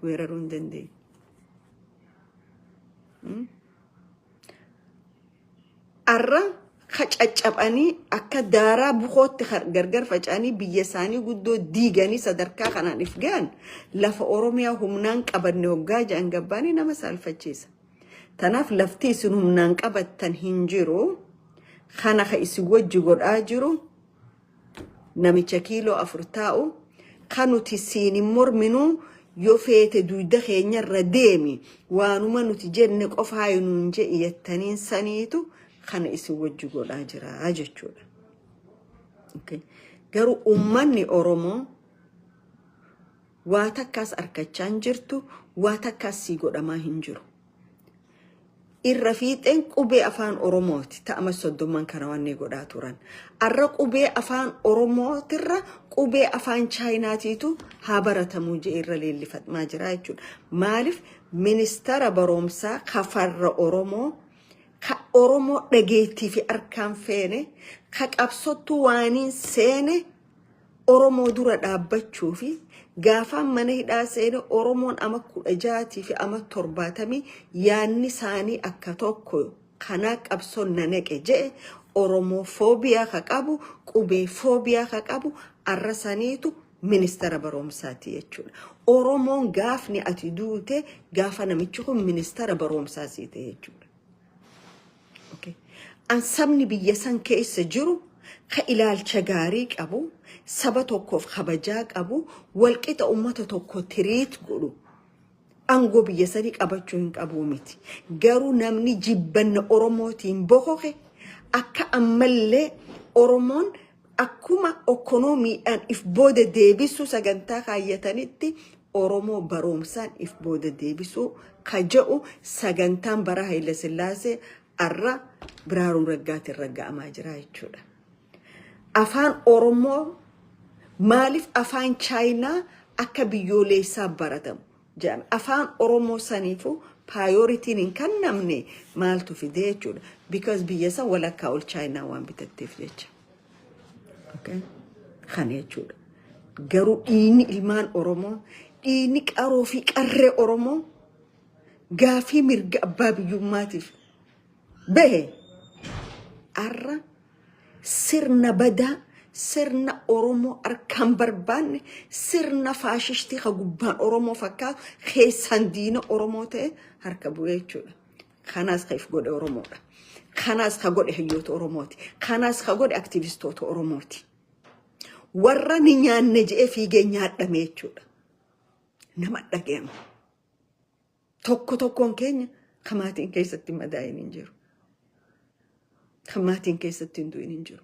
weeraruu hin dandeenye. Har'a ka caccabanii akka daaraa bukootti gargar faca'anii biyya isaanii guddoo diiganii sadarkaa kanaan if ga'an lafa Oromiyaa humnaan qabanne hoggaa jedhan gabbaanii nama saalfachiisa. Tanaaf lafti isin humnaan qabattan hin jiru. Kana ka isin wajji godhaa jiru namicha kiiloo afur taa'u ka nuti siin hin morminuu yoo feete duyda keenya irra deemi waanuma nuti jenne qofaa nuun je'i jettaniin saniitu kana isin wajji godhaa jira jechuudha. Okay. Garuu uummanni Oromoo Waa takkaas arkachaa hin jirtu, waa takkaas sii godhamaa hin jiru. Irra fiixeen qubee afaan Oromooti ta ama soddomman kana wannii godhaa turan. Arra qubee afaan Oromootirra qubee afaan Chaayinaatiitu haa baratamuu je'ee irra leellifatmaa jira jechuudha. Maaliif ministara baroomsaa ka farra Oromoo ka Oromoo dhageettii fi arkaan feene ka qabsottu waaniin seene Oromoo dura dhaabbachuu fi gaafaan mana hidhaa seene Oromoon ama kudha jaatii fi ama torbaatamii yaanni isaanii akka tokko kanaa qabsoon na naqe je'e Oromoo foobiyaa ka qabu qubee foobiyaa ka qabu arra saniitu ministara baroomsaati jechuudha. Oromoon gaafni ati duute gaafa namichi kun ministara baroomsaa siite jechuudha. Okay. An sabni biyya san keessa jiru ka ilaalcha gaarii qabu, saba tokkoof kabajaa qabu, walqixa ummata tokko tiriit godhu aangoo biyya sanii qabachuu hin qabu miti. Garuu namni jibbanna Oromootiin bokoke akka ammallee Oromoon akkuma okkonoomiidhaan if booda deebisuu sagantaa kaayyatanitti Oromoo baroomsaan if booda deebisuu ka ja'u sagantaan bara Hayilasillaasee arra Biraaruun Raggaatiin ragga'amaa jira jechuudha. Afaan Oromoo maaliif afaan Chaayinaa akka biyyooleessaa baratamu jedhame. Afaan Oromoo saniifuu paayooritiin hin kannamne maaltu fide jechuudha. Because biyya san walakkaa ol Chaayinaa waan bitatteef jecha. Okay. Kana jechuudha. Garuu dhiigni ilmaan Oromoo, dhiigni qaroo fi qarree Oromoo gaafii mirga abbaa biyyummaatiif bahe har'a sirna badaa, sirna Oromoo harkaan barbaanne, sirna faashishtii ka gubbaan Oromoo fakkaatu keessaan diina Oromoo ta'e harka bu'ee jechuudha. Kanaas ka if godhe Oromoodha. Kanaas ka godhe hayyoota Oromooti. Kanaas ka godhe aktivistoota Oromooti. Warra ni nyaanne je'ee fiigee nyaadhame jechuudha. Nama dhaga'ama. Tokko tokkoon keenya ka maatiin keessatti madaa'in hin jiru. Ka maatiin keessatti hin du'in hin jiru.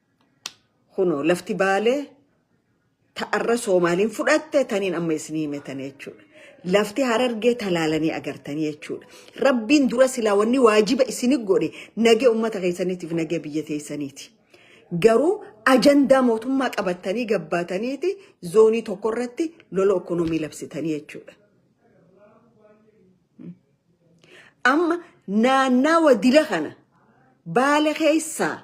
Kunoo lafti baalee ta arra Soomaaliin fudhatte taniin amma isinii hime tana jechuudha. Lafti harargee talaalanii agartanii jechuudha. Rabbiin dura silaa wanni waajiba isini godhe nagee ummata keessaniitiif nagee biyya teessaniiti. Garuu ajandaa mootummaa qabattanii gabbaataniiti zoonii tokko irratti lola ekonomii labsitanii jechuudha. Amma naannawa dila kana baale keessaa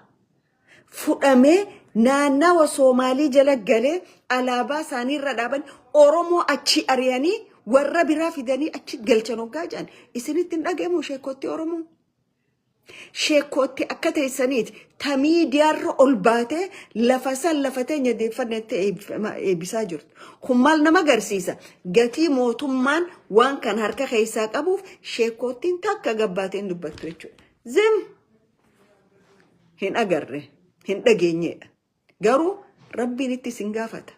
fudhamee naannawa Soomaalii jala galee alaabaa isaanii irra dhaaban Oromoo achii ari'anii warra biraa fidanii achi galchan hoggaa jedhan isinitti hin dhaga'amu sheekkootti Oromoo. Sheekkootti akka teessaniiti ta miidiyaarra ol baatee lafa san lafa teenya deeffannetti eebbifamaa- eebbisaa jirtu. Kun maal nama agarsiisa? Gatii mootummaan waan kan harka keessaa qabuuf sheekkoottiin takka gabbaatee hin dubbattu jechuudha. Zim! hin agarre hin dhageenyeedha garuu rabbiin itti isin gaafata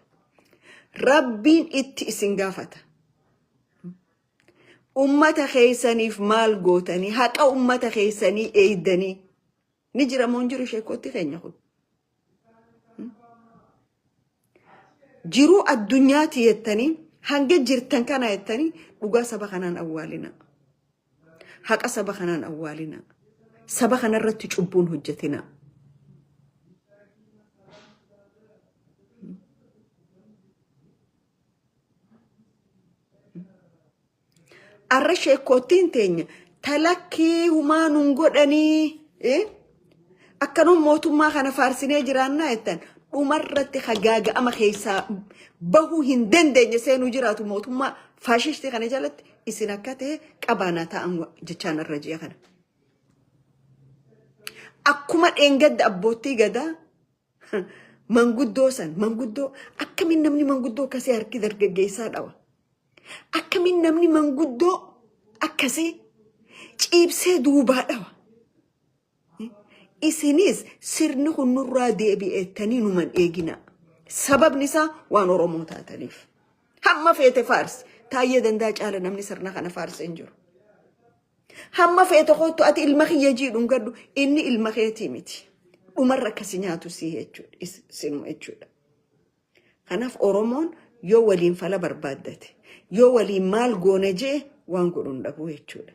rabbiin itti isin gaafata ummata keessaniif maal gootanii haqa ummata keessanii eeydanii ni jira moo hin jiru sheekotti keenya kun Jiruu addunyaati jettanii hanga jirtan kana jettanii dhugaa saba kanaan awwaalina. Haqa saba kanaan awwaalina. Saba kanarratti cubbuun hojjetina. Arra sheekkoottiin teenya talakkii humaa nun godhanii eh? akkanuma mootummaa kana faarsinee jiraannaa jettan dhumarratti hagaaga'ama keessaa bahuu hin dandeenye seenuu jiraatu mootummaa faashishtii kana jalatti isin akka ta'e qabaanaa ta'an jechaan irra ji'a kana. Akkuma dheengadda abboottii gadaa Manguddoo san manguddoo akkamiin namni manguddoo akkasii harki dargaggeessaa dhawa. Akkamiin namni manguddoo akkasii ciibsee duubaa dhawa. Isinis sirni kun nurraa deebi'eettanii numan eeginaa. Sababni isaa waan Oromoo taataniif. Hamma feete faarsi. Taayyee dandaa caala namni sirna kana faarsi hin jiru. Hamma feete kottu ati ilma kiyya jiidhu hin gaddu inni ilma keetii miti. Dhumarra akkasi nyaatu sii jechuudha. is- Sinuma jechuudha. Kanaaf Oromoon yoo waliin fala barbaaddate yoo waliin maal goona jee waan godhu hin dhabu jechuudha.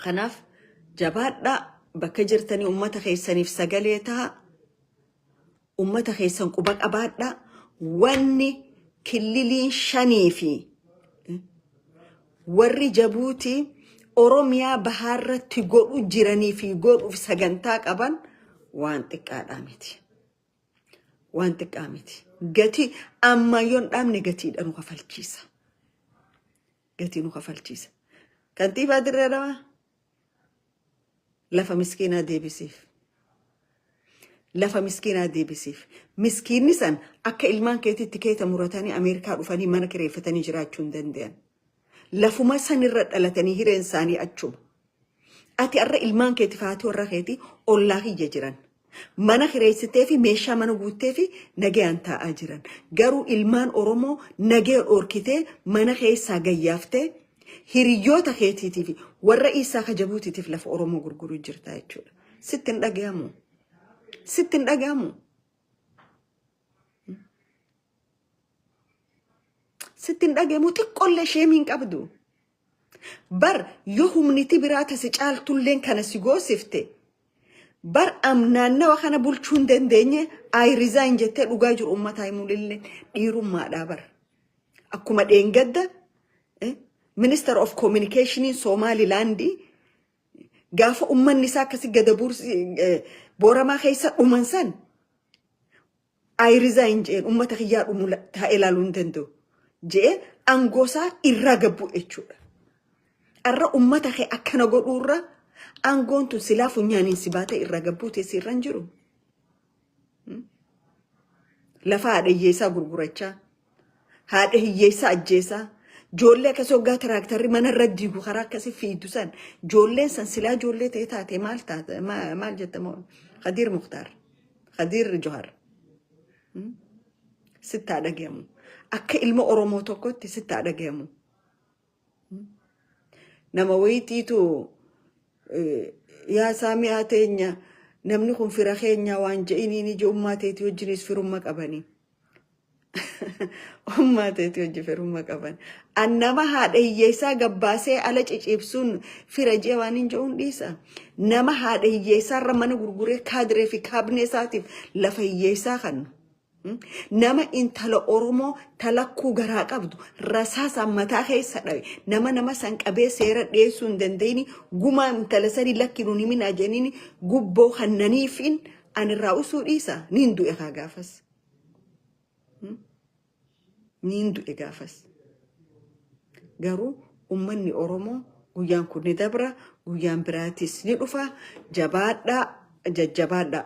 Kanaaf jabaadhaa bakka jirtanii uummata keessaniif sagalee ta'a. Ummata keessan quba qabaadhaa wanni killiliin shanii fi warri Jabuutii Oromiyaa bahaarratti godhu jiranii fi godhuuf sagantaa qaban waan xiqqaadhaa miti. Waan xiqqaa miti. Gatii amma yoon dhaabne gatiidha nu kafalchiisa. Gatii nu kafalchiisa. Kantiibaa Dirree Dhawaa Lafa miskiinaa deebisiif. Lafa miskiinaa deebisiif. Miskiinni san akka ilmaan keetiitti keeta muratanii Ameerikaa dhufanii mana kireeffatanii jiraachuu hin danda'an. Lafuma san irra dhalatanii hireen isaanii achuma. Ati har'a ilmaan keetiif haati warra keetii ollaa kiyya jiran. Mana kireessitee fi meeshaa mana guuttee fi nagayaan taa'aa jiran. Garuu ilmaan Oromoo nagaya dhorkitee mana keessaa gayyaaftee hiriyyoota keetiitii fi warra Iisaa ka Jabuutiitiif lafa Oromoo gurguruu jirtaa jechuudha. Sitti hin dhagahamu. Sitti hin dhagahamu. Sitti hin dhagahamu xiqqollee sheemii hin qabdu. Bar yo humniti biraa ta si caaltulleen kana si goosifte bar am naannawa kana bulchuu hin dandeenye I resign jettee dhugaa jiru ummataa himuunillee dhiirummaadhaa bar. Akkuma dheengadda eh, Minister of Communication Somaliland gaafa ummanni isaa akkasi gada buursi eh, booramaa keessa dhuman san I resign je'een ummata kiyyaa dhumu la- taa'ee laaluu hin danda'u je'ee angoosaa irraa gabbuu jechuudha. Arra ummata kee akkana godhuurra aangoon tun silaa funyaaniin si baatee irraa gabbuu teessi irra hin jiru. Lafa haadhayyeessaa gurgurachaa Haadha hiyyeessaa ajjeesaa. Joollee akkasii hoggaa tiraaktarri mana irra diigu karaa akkasii fiidu san. Joolleen san silaa joollee ta'e taate maal taate ma- maal jette moo Khadiir Muktaar. Khadiir Johar. Sitti haa dhagahamu. Akka ilma Oromoo tokkotti sitti haa dhagahamu. Nama wayiitiitu yaa saami'aa teenya namni kun fira keenyaa waan je'iniin ija ummaa teetii wajjinis firumma qabani. Ummaa teetii wajji firumma qaban. An nama haadha hiyyeessaa gabbaasee ala ciciibsuun fira je'e waan hin je'uun dhiisa. Nama haadha hiyyeessaa irra mana gurguree kaadiree fi kaabinee isaatiif lafa hiyyeessaa kannu. Nama intala Oromoo talakkuu garaa qabdu rasaasaan mataa keessa dhawe nama nama san qabee seera dhiyeessuu hin dandeenye gumaa intala sanii lakki nun himinaa jenini gubboo kannaniifiin anirraa usuu dhiisa niin du'e kaa gaafas. Niin du'e gaafas. Garuu ummanni Oromoo guyyaan kun ni dabra guyyaan biraatis ni dhufa jabaadhaa jajjabaadhaa.